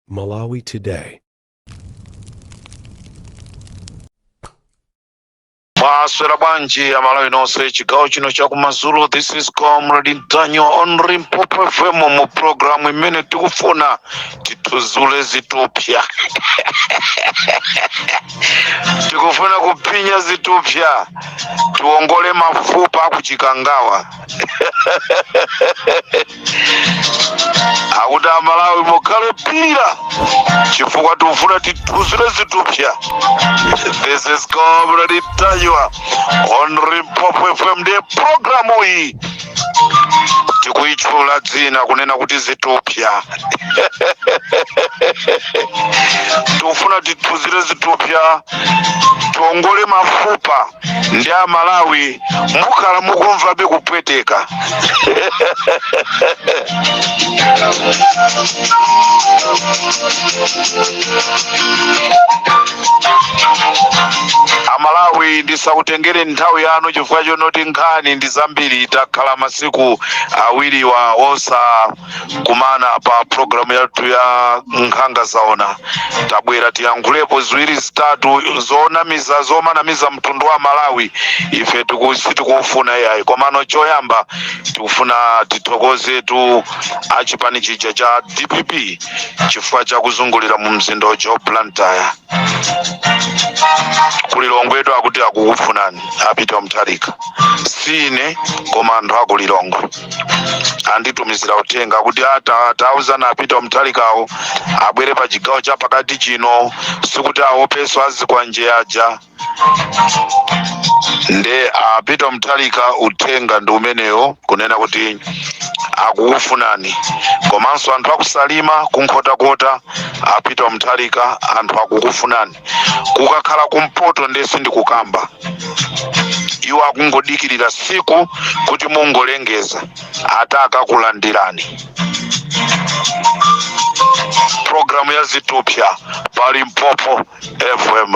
Malawi Today. mwaswera bwanji amalawi nonse chigawo chino chakumadzulo this is comrade Ntanyiwa on Limpopo FM mu programu imene tikufuna tithudzule zithupsa tikufuna kuphinya zithupsa tiwongole mafupa a ku Chikangawa akuti amalawi mukhale opirira chifukwa tikufuna tithudzule zithupsa this is comrade Ntanyiwa on Limpopo FM ndi programu iyi tikuyitchula dzina kunena kuti zithupsa tikufuna tithudzule zithupsa tiongole mafupa ndi amalawi mukhala mukumvabe kupweteka amalawi ndisakutengere nthawi yanu chifukwa chonoti nkhani ndi zambiri takhala masiku awiriwa osa kumana pa programu yathu ya nkhanga zaona tabwera tiyankhulepo ziwiri zitatu zonamiza zomanamiza mtundu wa malawi ife tiku- sitikufuna iyayi komano choyamba tikufuna tithokozetu achipani chija cha dpp chifukwa cha kuzungulira mu mzinda uja wa Blantyre ku Lilongwetu akuti akukufunani a Peter Mutharika si ine koma anthu akulilongwe anditumizira uthenga kuti ati tauzani a Peter Mutharikawo abwere pa chigawo cha pakati chino sikuti aopenso azikwanje aja nde a Peter Mutharika uthenga ndi umenewo kunena kuti akukufunani komanso anthu akusalima ku Nkhotakota a Peter Mutharika anthu akukufunani kukakhala kumpoto nde sindikukamba iwo akungodikirira tsiku kuti mungolengeza ati akakulandirani programu ya zithupsa pa limpopo fm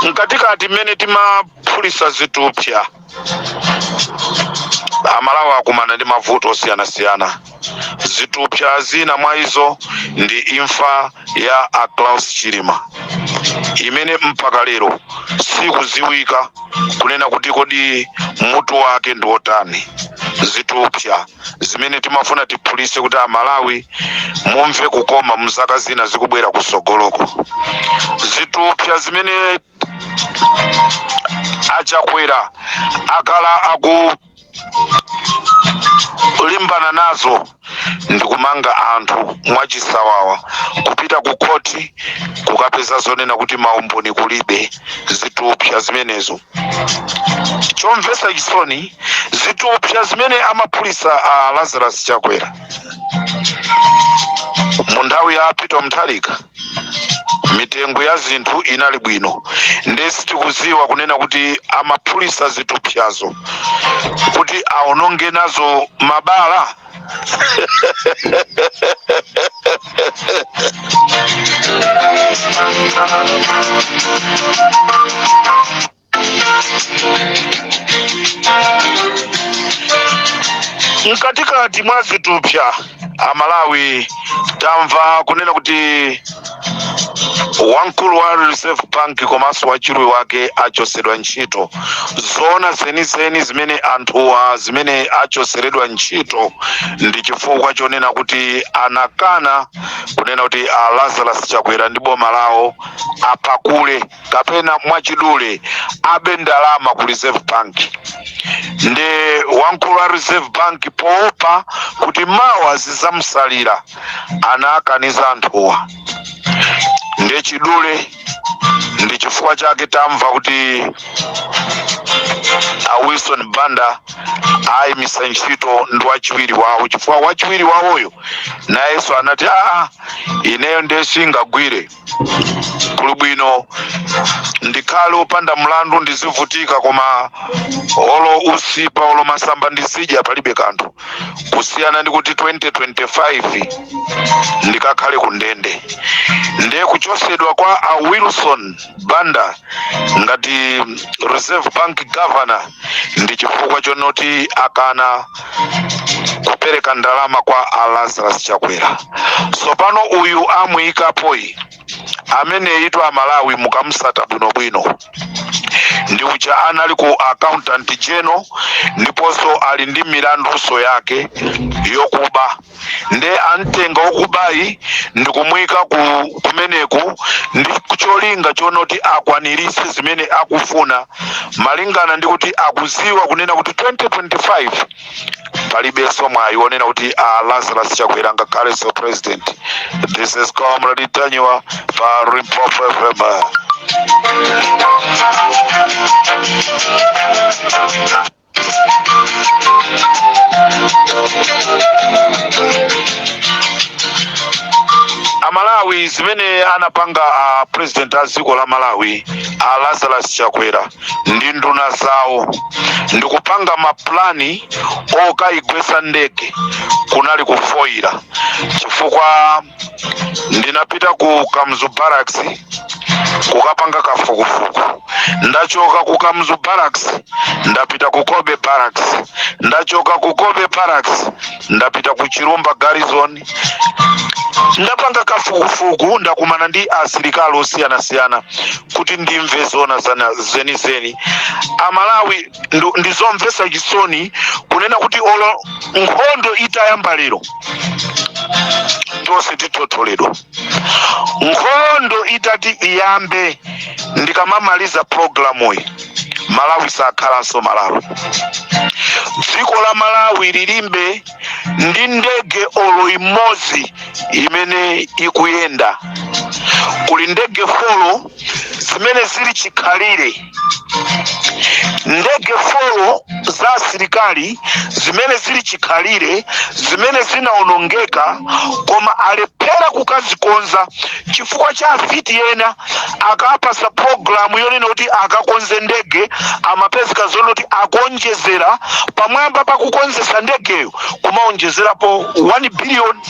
mkatikati mmene timaphulitsa zithupsa amalawi akumana ndi mavuto osiyanasiyana zithupsa zina mwa izo ndi imfa ya a Klaus Chilima imene mpaka lero sikudziwika kunena kuti kodi mutu wake ndi wotani zithupsa zimene timafuna tiphulise kuti amalawi mumve kukoma muzaka zina zikubwera kusogoloko zitupsa zimene achakwera akhala akulimbana nazo ndikumanga anthu mwachisawawa kupita ku khoti kukapeza zoonena kuti maumboni kulibe zitupsa zimenezo chomvesa chisoni zitupsa zimene amaphulisa a lazarus chakwera mu nthawi ya peter mutharika mitengo ya zinthu inali bwino ndiye sitikuziwa kunena kuti amaphulisa zitupsazo kuti aononge nazo mabala mkatikati mwa zitupsa amalawi tamva kunena kuti wamkulu wa reserve bank komanso wachiwiri wake achosedwa ntchito zoona zenizeni zimene anthuwa zimene achoseredwa ntchito ndi chifukwa chonena kuti anakana kunena kuti a lazarus chakwera ndi boma lawo apakule kapena mwachidule abe ndalama ku reserve bank ndiye wamkulu wa reserve bank poopa kuti mawa zizamsalira anakaniza anthuwa ndiye mwachidule ndi chifukwa chake tamva kuti a wilson banda ayimisidwa ntchito ndi wachiwiri wawo chifukwa wachiwiri wawoyo nayenso anati aa ineyo ndiye singagwire kuli bwino ndikhale opanda mlandu ndizivutika koma olo usipa olo masamba ndizidya palibe kanthu kusiyana ndi kuti 2025 ndikakhale ku ndende ndiye kuchosedwa kwa a wilson banda ngati reserve bank governor ndi chifukwa chonoti akana kupereka ndalama kwa a lazarus chakwera sopano uyu amuyikapoyi ameneyitu amalawi mukamsata bwinobwino ndi uja anali ku accountant general ndiponso ali ndi milandunso yake yokuba nde amtenga okubayi ndikumuyika kumeneku ndi cholinga chonoti akwanirise zimene akufuna malingana ndi kuti akuziwa kunena kuti 2025 palibenso mwayi wonena kuti a lazarus chakwera angakhalenso president this is comrade ntanyiwa pa limpopo fm amalawi zimene anapanga a president a dziko la malawi a lazarus chakwera ndi nduna zawo ndikupanga mapulani okayigwesa ndege kunali kufoyira chifukwa ndinapita ku kamuzu barracks kukapanga kafukufuku ndachoka ku kamuzu barracks ndapita ku kobe barracks ndachoka ku cobbe barracks ndapita ku chilumba garrison ndapanga kafukufuku ndakumana ndi asilikali osiyanasiyana kuti ndimve zoona zenizeni amalawi ndizomvetsa chisoni kunena kuti olo nkhondo itayamba lero tonse tithotholedwa nkhondo itati iyambe ndikamamaliza programuyi malawi sakhalanso malawi dziko la malawi lilibe ndi ndege olo imodzi imene ikuyenda kuli ndege folo zimene zili chikhalire ndege folo za asilikali zimene zili chikhalire zimene zinaonongeka koma alephera kukazikonza chifukwa cha afiti ena akapasa programu yonena kuti akakonze ndege amapezeka zonena kuti akaonjezera pamwamba pa kukonzesa ndegeyo kumaonjezerapo 1 billion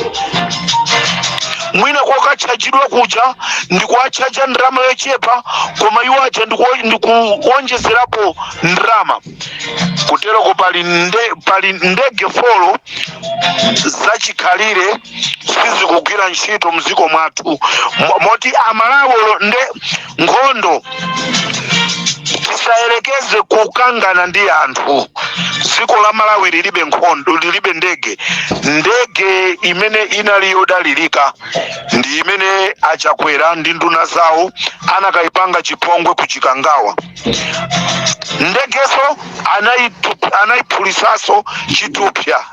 mwina kokatchajidwa kuja ndikuwatchaja ndalama yochepa koma iwo aja ndikuwonjezerapo ndalama kuteroko pali ndege folo zachikhalire sizikugwira ntchito mdziko mwathu moti amalawi olo nde nkhondo tisayerekeze kukangana ndi anthu dziko la malawi lilibe nkhondo lilibe ndege ndege imene inali yodalirika ndi imene achakwera ndi nduna zawo anakayipanga chipongwe ku chikangawa ndegeso anaiphulitsaso chithupsa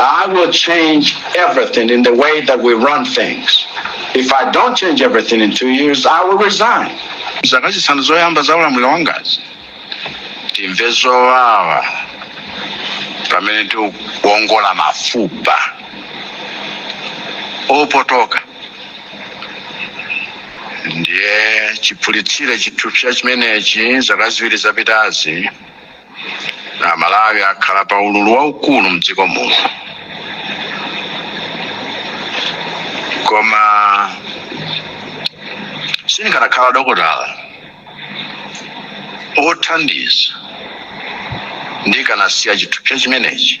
I will change everything in the way that we run things. If I don't change everything in two years, I will resign. zaka zisanu zoyamba za ulamuliro wangazi timve zowawa pamene tikuongola mafupa opotoka ndiye chiphulitsire chithupsa chimenechi zaka ziwiri zapitazi amalawi akhala pa ululu waukulu mdziko muno koma sindikanakhala dokotala othandiza ndikanasiya chithupsa chimenechi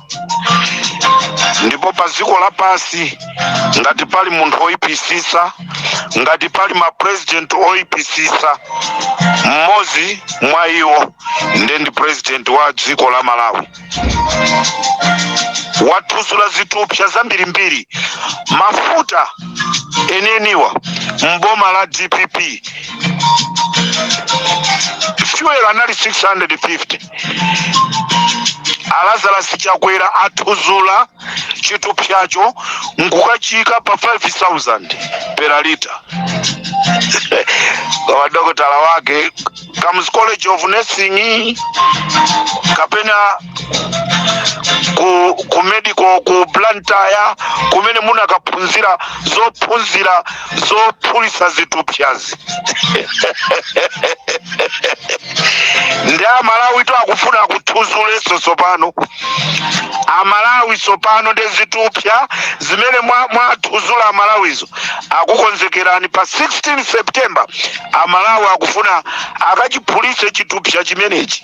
ndipo pa dziko lapasi ngati pali munthu oyipisisa ngati pali mapurezidenti oyipisisa mmodzi mwa iwo nde ndi purezidenti wa dziko la malawi wathuzula zithupsa zambirimbiri mafuta eneniwa mboma la dpp fuel anali 650 a lazarus chakwera athuzula chithupsacho nkukachiyika pa 5000 per liter kwa dokotala wake kamuzu college of nursing kapena ku, ku medical ku blantyre kumene munakaphunzira zophunzira zophulisa zithupsazi ndi amalawi to akufuna kuthuzuleso tsopano amalawi tsopano ndi zithupsa zimene mwa- mwathuzula amalawizo akukonzekerani pa 16 september amalawi akufuna akachiphulitse chithupsa chimenechi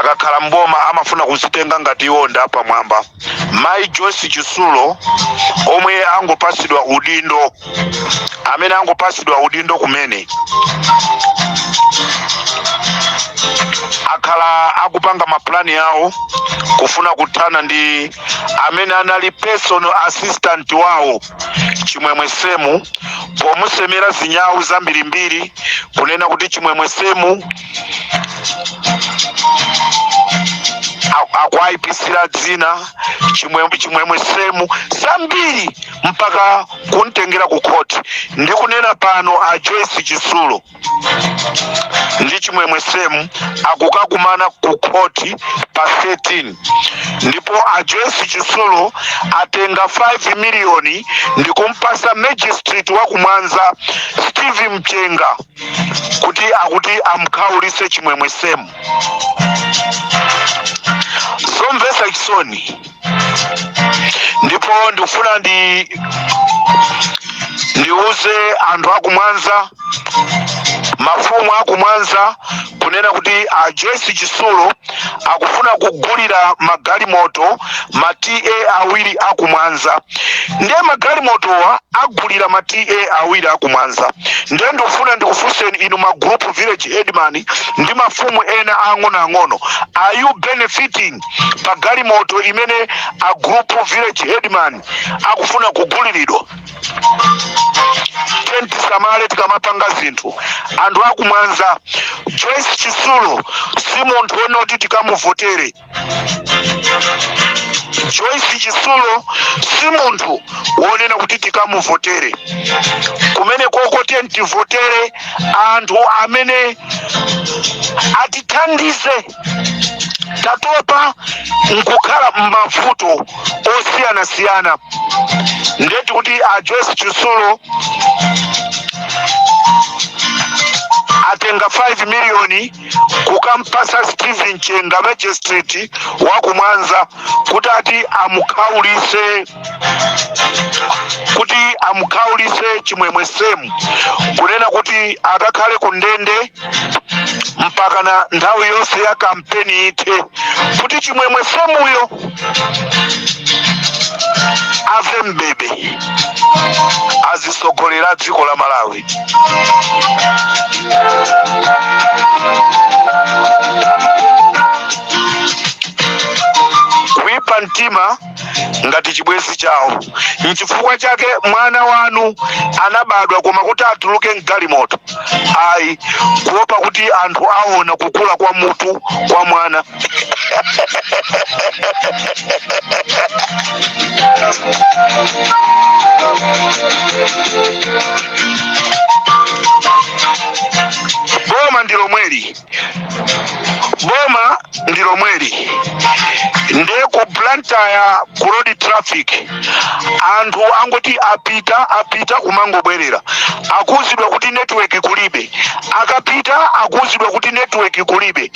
akakhala mboma amafuna kuzitenga ngati iwo ndi apamwamba mayi joyce chitsulo omwe angopasidwa udindo amene angopasidwa udindo kumene akhala akupanga mapulani yawo kufuna kuthana ndi amene anali personal assistant wawo chimwemwe semu pomusemera zinyawu zambirimbiri kunena kuti chimwemwe semu a- akuayipisira dzina chimwemwe chimwemwe semu zambiri mpaka kumtengera ku khoti ndikunena pano a joyce chitsulo ndi chimwemwe semu akukakumana ku khoti pa 13 ndipo a joyce chitsulo atenga 5 miliyoni ndi kumpasa magistrate wa kumwanza steve mchenga kuti akuti amkhaulise chimwemwe semu zomvesa chisoni ndipo ndikufuna ndi ndiuze anthu akumwanza mafumu akumwanza kunena kuti a joyce chisulo akufuna kugulira magalimoto ma ta awiri akumwanza ndiye magalimotowa agulira ma ta awiri akumwanza ndiye ndikufuna ndikufunseni inu ma group village headman ndi mafumu ena ang'onoang'ono are you benefiting pa galimoto imene a group village headman akufuna kuguliridwa tiyeni tisamale tikamapanga zinthu anthu akumwanza joyce chisulo si munthu wonena kuti tikamuvotere joyce chisulo si munthu wonena kuti tikamuvotere kumene koko tiyeni tivotere anthu amene atithandize tatopa nkukhala m'mavuto osiyanasiyana nde ati kuti a joyce chisulo atenga 5 miliyoni kukampasa steven chenga magistrate wakumwanza kuti ati amukhaulise kuti amukhaulise chimwemwe semu kunena kuti akakhale ku ndende mpakana nthawi yonse ya kampeni ithe kuti chimwemwe semuyo ave mbebe azisogolera dziko la malawi kuipa mtima ngati chibwenzi chawo nchifukwa chake mwana wanu anabadwa koma kuti atuluke mgalimoto ayi kuopa kuti anthu aona kukula kwa mutu kwa mwana boma ndi lomweli boma ndi lomweli nde ku blantyre ku road traffic anthu angoti apita apita kumangobwerera akuuzidwa kuti network kulibe akapita akuuzidwa kuti network kulibe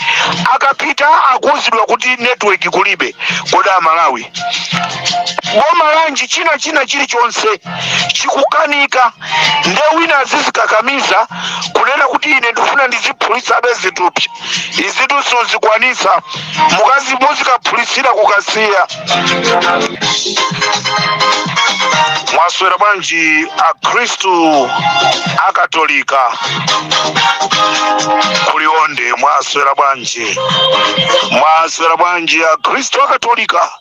akapita akuuzidwa kuti network kulibe kodi amalawi boma lanji china china chilichonse chikukanika nde wina azizikakamiza kunena kuti ine ndifuna ndiziphulitsabe zitupsya izitu sizikwanitsa mukazi muzikaphulitsira kukasiya mwaswera bwanji akhristu akatolika kuliwonde mwaswera bwanji mwaswera bwanji akhristu akatolika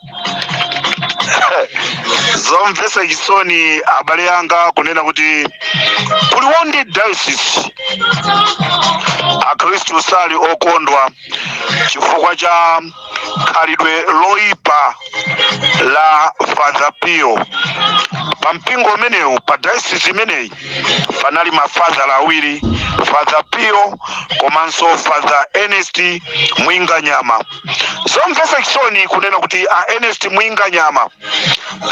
zomvetsa chisoni abale anga kunena kuti ku Liwonde diocese akhristu sali okondwa chifukwa cha khalidwe loipa la father pio pa mpingo umenewu pa diocese imeneyi panali mafadhala awiri father pio komanso father ernest mwinganyama zomvetsa chisoni kunena kuti a ernest mwinganyama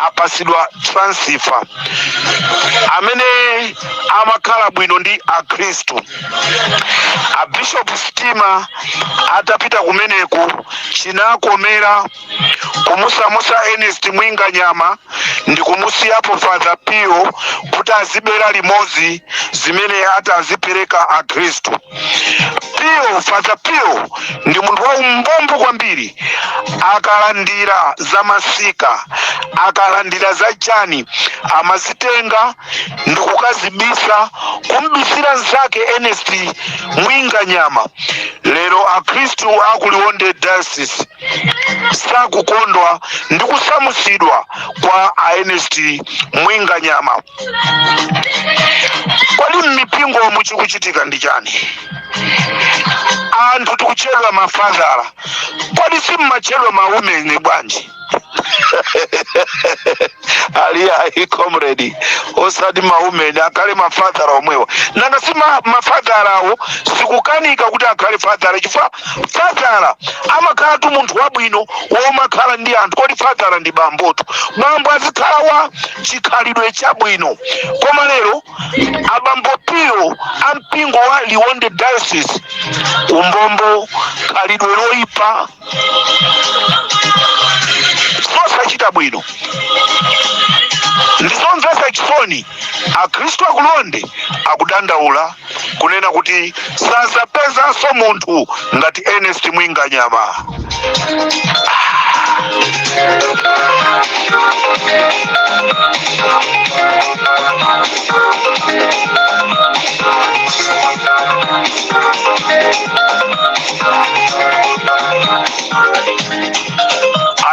apasidwa transfer amene amakhala bwino ndi akhristu a bishop stima atapita kumeneku chinakomera kumusamusa ernest mwinganyama ndi kumusiyapo father pio kuti azibera limodzi zimene atazipereka akhristu Pio Father Pio ndi munthu wa umbombo kwambiri akalandira za masika akalandira za chani amazitenga ndi kukazibisa kumbisira nzake Ernest Mwinganyama lero akhristu a ku Liwonde diocese sakukondwa ndi kusamusidwa kwa a Ernest Mwinganyama Kodi m'mipingomu chikuchitika ndi chani? Anthu mukutchedwa mafadhala. Kodi simumatchedwa maumeni bwanji? ati ayi comrade osati maumeni akhale mafadhala omwewa nanga si ma- mafadhalawo sikukanika kuti akhale fadhala chifukwa Fadhala amakhalatu munthu wabwino womakhala ndi anthu. Kodi fadhala ndi bambotu? Bambo azikhala wa chikhalidwe chabwino. Koma lero abambo Pio a mpingo wa Liwonde Diocese, umbombo, khalidwe loipa, zosachita bwino ndi zomvetsa chisoni. Akhristu a ku Liwonde akudandaula. kunena kuti sazapezanso munthu ngati Ernest Mwinganyama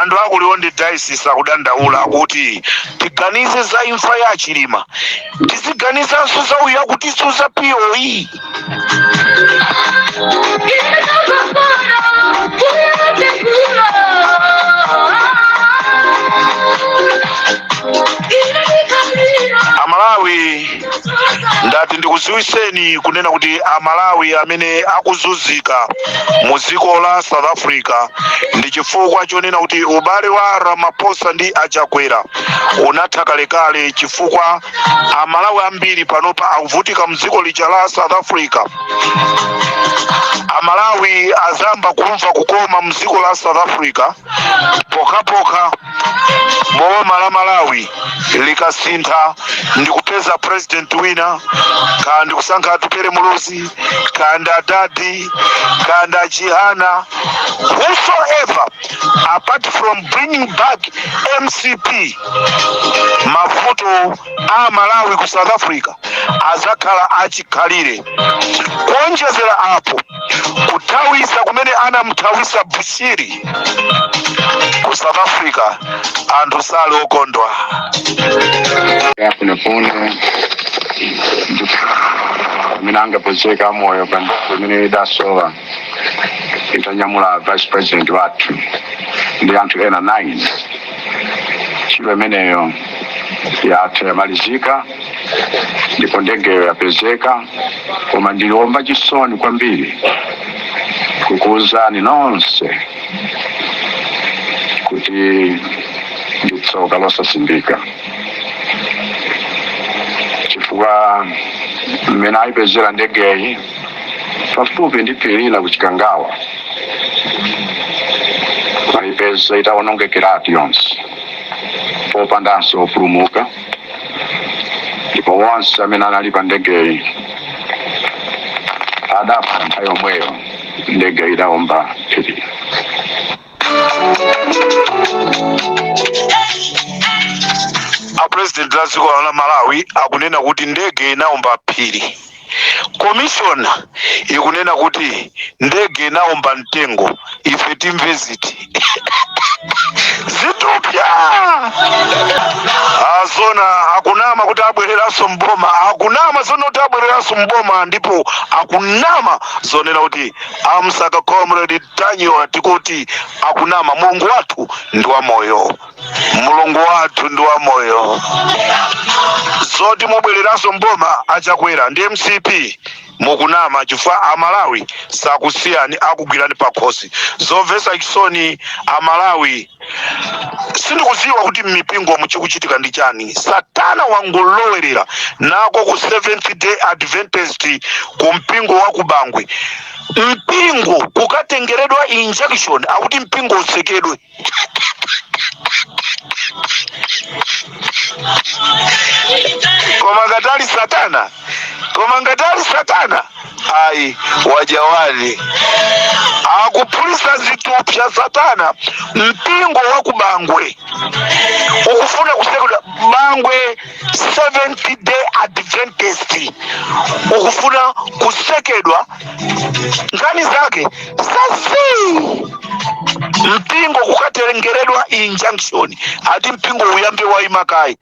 anthu a ku Liwonde diocese akudandaula kuti tiganize za imfa ya a Chilima tiziganizanso za uyo akutitsutsa pa ujeni amalawi ndati ndikuziwiseni kunena kuti amalawi amene akuzunzika mu dziko la south africa ndi chifukwa chonena kuti ubale wa ramaphosa ndi achakwera unatha kalekale chifukwa amalawi ambiri panopa akuvutika mdziko lija la south africa amalawi azayamba kumva kukoma mdziko la south africa pokhapokha boma la malawi likasintha ndi kupeza president wina kaya ndi kusankha atupere muluzi kaya ndi adadi kaya ndi achihana whosoever apart from bringing back mcp mavuto a malawi ku south africa azakhala achikhalire kuonjezera apo kuthawisa kumene anamthawisa bushiri ku south africa anthu sali okondwa ya funefune amene angapezeke moyo pa nthawi imene idasowa itanyamula vice president wathu ndi anthu ena 9 ntchito imeneyo yatha yamalizika ndipo ndegeyo yapezeka koma ndili womva chisoni kwambiri kukuwuzani nonse kuti ndi tsoka losasimbika chifukwa mmene ayipezera ndegeyi pafupi ndi phiri lina ku chikangawa ayipeza itawonongekeratu yonse popandanso opulumuka ndipo wonse amene anali pa ndegeyi adafa nthawi yomweyo ndege idawomba phiri a president a dziko la malawi akunena kuti ndege inaomba phiri komishona ikunena kuti ndege inaomba mtengo ife timve ziti zitupya azona akunama kuti abwereranso mboma akunama zona kuti abwereranso mboma ndipo akunama zonena kuti amsaka comrade ntanyiwa tikuti akunama mulungu wathu ndi wamoyo mulungu wathu ndi wamoyo zoti mubwereranso mboma achakwera ndi mcp mukunama chifukwa amalawi sakusiyani akugwirani pakhosi zomvetsa chisoni amalawi sindikudziwa kuti mmipingo muchikuchitika ndi chani satana wangolowerera nako ku seventh day adventist ku mpingo wa kubangwe mpingo kukatengeredwa injunction akuti mpingo utsekedwe koma ngati ali satana koma ngati ali satana ayi wajawani akuphulitsa zithupsya satana mpingo wa ku bangwe ukufuna kutsekedwa bangwe seventh day adventist ukufuna kutsekedwa nkhani zake sasi mpingo kukatengeredwa injunction ati mpingo uyambe waima kaye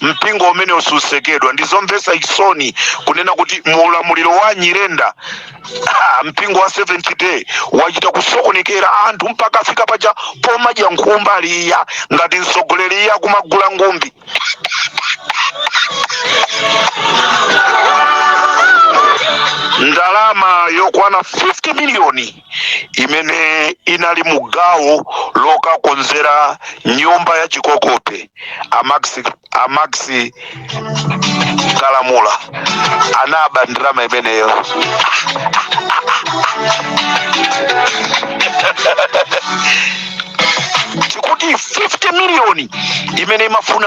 mpingo umene usutsekedwa ndi zomvetsa chisoni kunena kuti mu ulamuliro wa nyirenda ah, mpingo wa seventh day wachita kusokonekera anthu mpaka afika paja pomadya nkhumba liya ngati mtsogoleri iye akumagula ngumbi ndalama yokwana 50 miliyoni imene inali mu gawo lokakonzera nyumba ya chikokope a max a max kalamula anaba ndalama imeneyo tikuti 50 miliyoni imene imafuna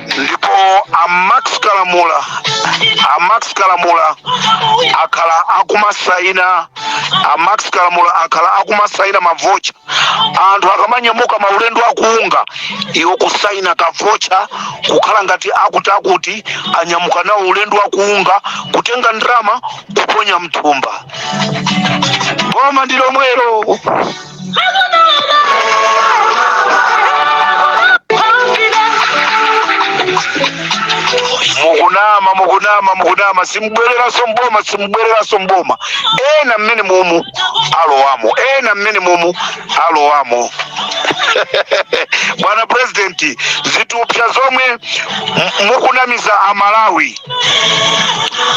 ndipo a max kalamula a max kalamula akhala akumasaina a max kalamula akhala akumasaina mavocha anthu akamanyamuka maulendo akuunga iwo kusaina kavocha kukhala ngati akuti akuti anyamuka nawo ulendo wakuunga kutenga ndalama kuponya mthumba boma ndi lomwelo mukunama mukunama mukunama simubwereranso mboma simubwereranso mboma ena mmene mumu alowamo ena mmene mumu alowamo bwana purezidenti zithupsya zomwe m- mukunamiza amalawi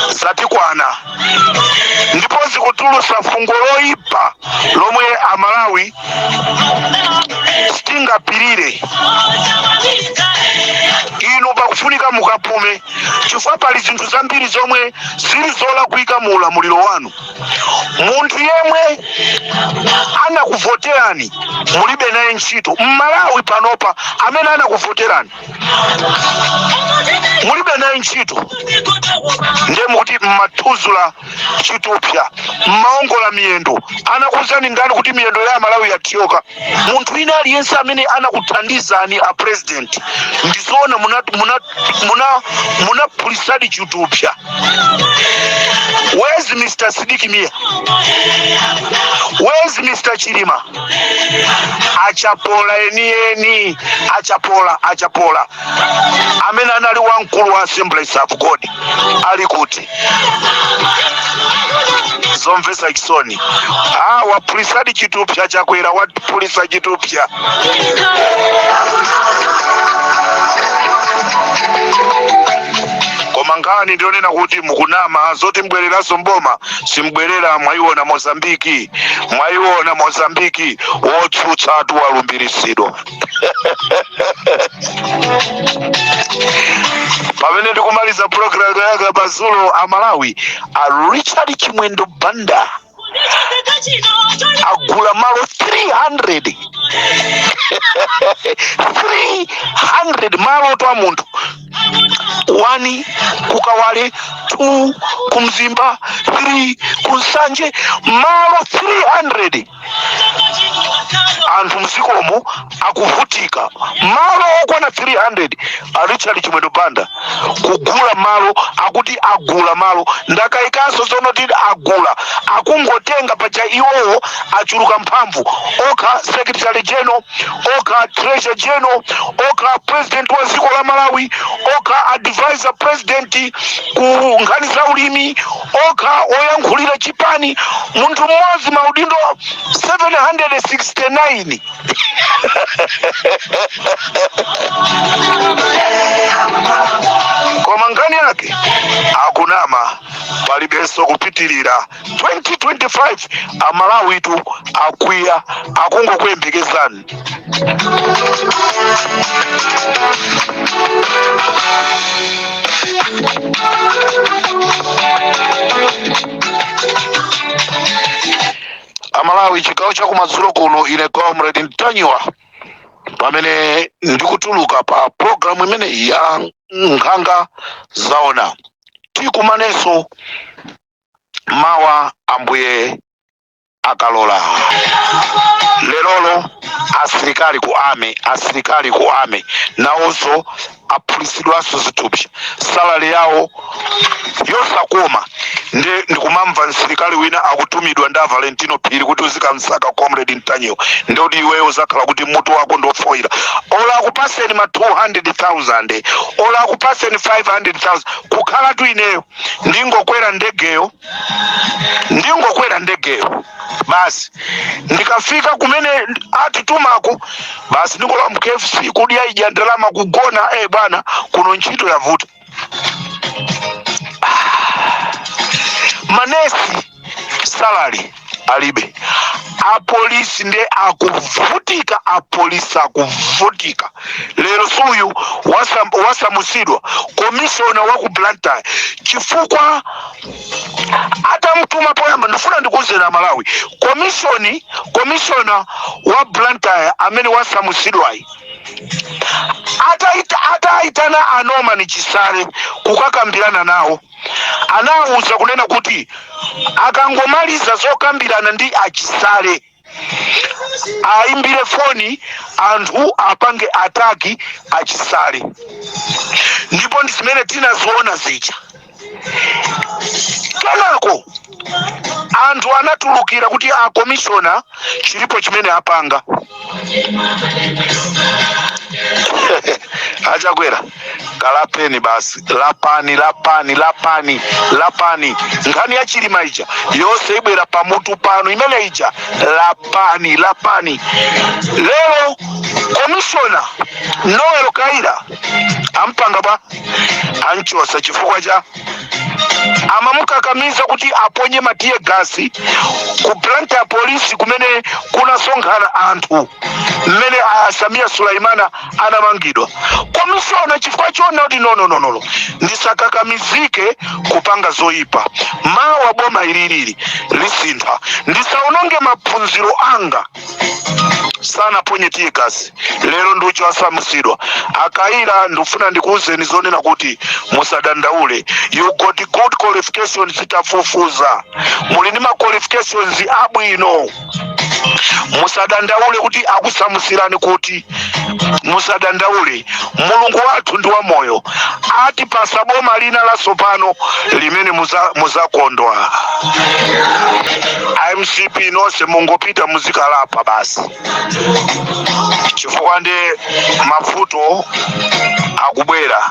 zatikwana ndipo zikutulutsa fungo loipa lomwe amalawi sitingapirire inu pakufunika mukapume chifukwa pali zinthu zambiri zomwe zili zolakwika mu ulamuliro wanu munthu yemwe anakuvoterani mulibe naye ntchito mmalawi panopa amene anakuvoterani mulibe naye ntchito ndiye mukuti mmathudzula chitupsa mmaongola miyendo anakuuzani ndani kuti miyendo ya amalawi yathyoka munthu wina aliyense amene anakuthandizani a president ndizoona munaphulitsadi chitupsa where's mr sidik mia where's mr chilima achapola eni eni achapola achapola amene anali wamkulu wa assemblies of god ali kuti zomvetsa chisoni ah, waphulitsadi chitupsa chakwera waphulitsa chitupsa koma nkhani ndi yonena kuti mukunama zoti mubwereranso mboma simubwerera mwayiona mozambiki mwayiona mozambiki wotsutsatu walumbiritsidwa pamene ndikumaliza programu ya kumadzulo a malawi a richard chimwendo banda agula malo 300 300 malo oti a munthu 1 kukawale 2 kumzimba 3 kunsanje malo 300 anthu m'dzikomo akuvutika malo okwana 300 a richard chimwendo banda kugula malo akuti agula malo ndakayikanso zonena kuti agula akungotenga paja iwowo achuluka mphamvu okha secretary general okha treasurer general okha president wa dziko la malawi okha advisor president ku nkhani za ulimi okha oyankhulira chipani munthu mmodzi maudindo 769 koma nkhani yake akunama palibenso kupitirira 2025 amalawitu akwiya akungokuyembekezani amalawi chigawo chakumadzulo kuno ine comrade ntanyiwa pamene ndikutuluka pa programu imeneyi ya nkhanga zaona tikumanenso mawa ambuye akalola lerolo asilikali ku ame asilikali ku ame nawonso aphulisidwanso zithupsa salary yawo yosakoma ndi ndikumamva msilikali wina akutumidwa ndi avalentino phiri kuti uzikamsaka comrade ntanyiwa ndikuti iweyo uzakhala kuti mutu wako ndiofoyira ola akupaseni ma 200000 ola akupaseni 500000 kukhalatu ineyo ndingokwera ndegeyo ndingokwera ndegeyo basi ndikafika kumene atitumako basi ndingolowa mu KFC kudya ija ndalama kugona eh bwana kuno ntchito yavuta manesi salary alibe apolisi nde akuvutika apolisi akuvutika lero suyu wasam- wasamusidwa komishona wa ku blantyre chifukwa atamutuma poyamba ndifuna ndikuuzeni amalawi komishoni komishona wa blantyre amene wasamusidwayi ataita- ataitana a norman chisale kukakambirana nawo anawauza kunena kuti akangomaliza zokambirana ndi a Chisale aimbire foni anthu apange ataki a Chisale ndipo ndi zimene tinaziona zija kenako anthu anatulukira kuti a komishona chilipo chimene apanga achakwera kalapeni basi lapani lapani lapani lapani nkhani ya chilima ija yonse ibwera pamutu panu imene ija lapani lapani lero komishona noel kaira ampanga bwa anchosa chifukwa cha amamukakamiza kuti aponye ma tear gas ku blantyre polisi kumene kunasonkhana anthu mmene a sameer suleman anamangidwa komishona chifukwa choona kuti nonononono ndisakakamizike kupanga zoyipa mawa boma ililili lisintha ndisaononge maphunziro anga sanaponye tear gas lero ndi uja wasamusidwa a kaira ndifuna ndikuwuzeni zoonena kuti musadandaule you got good qualifications titafufuza muli ndi ma qualifications abwino musadandaule kuti akusamusirani kuti musadandaule mulungu wathu ndi wamoyo atipasa boma lina latsopano limene muzakondwa a mcp nonse mungopita muzikalapa basi chifukwa ndi mavuto akubwera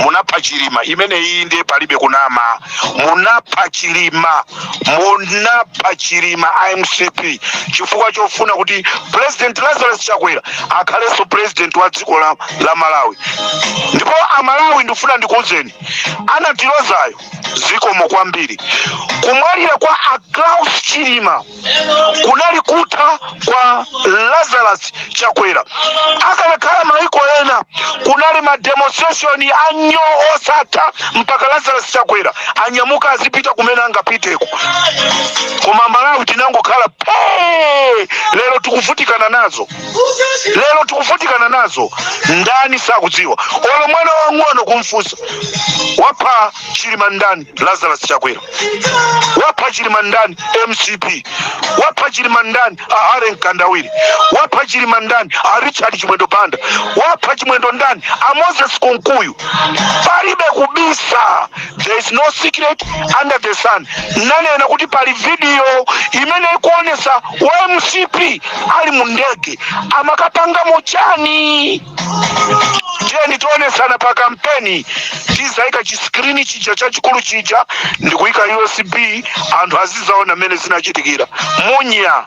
munapha chilima imeneyinde palibe kunama munapha chilima munapha chilima a mcp chifukwa chofuna kuti president lazarus chakwera akhalenso president wa dziko la malawi ndipo amalawi ndifuna ndikuwuzeni anatilozayo zikomo kwambiri kumwalira kwa a klaus chilima kunali kutha kwa lazarus chakwera akanakhala maiko ena kunali mademonstration anyo osatha mpaka lazarus chakwera anyamuka azipita kumene angapiteko koma amalawi tinangokhala pee lero tikuvutikana nazo lero tikuvutikana nazo ndani sakudziwa olo mwana wang'ono kumfusa wapha chilima ndani Lazarus Chakwera wapha Chilima ndani? MCP wapha Chilima ndani? A Harry Mkandawire wapha Chilima ndani? A Richard Chimwendo Banda wapha Chimwendo ndani? A Moses Kunkuyu. Palibe kubisa, there is no secret under the sun. Nanena kuti pali video imene ikuonesa wa MCP ali mu ndege amakapangamo chani tiyeni tionesana pa kampeni tizaika chiskrini chija chachikulu chija ndikuika usb anthu azizaona mmene zinachitikira munya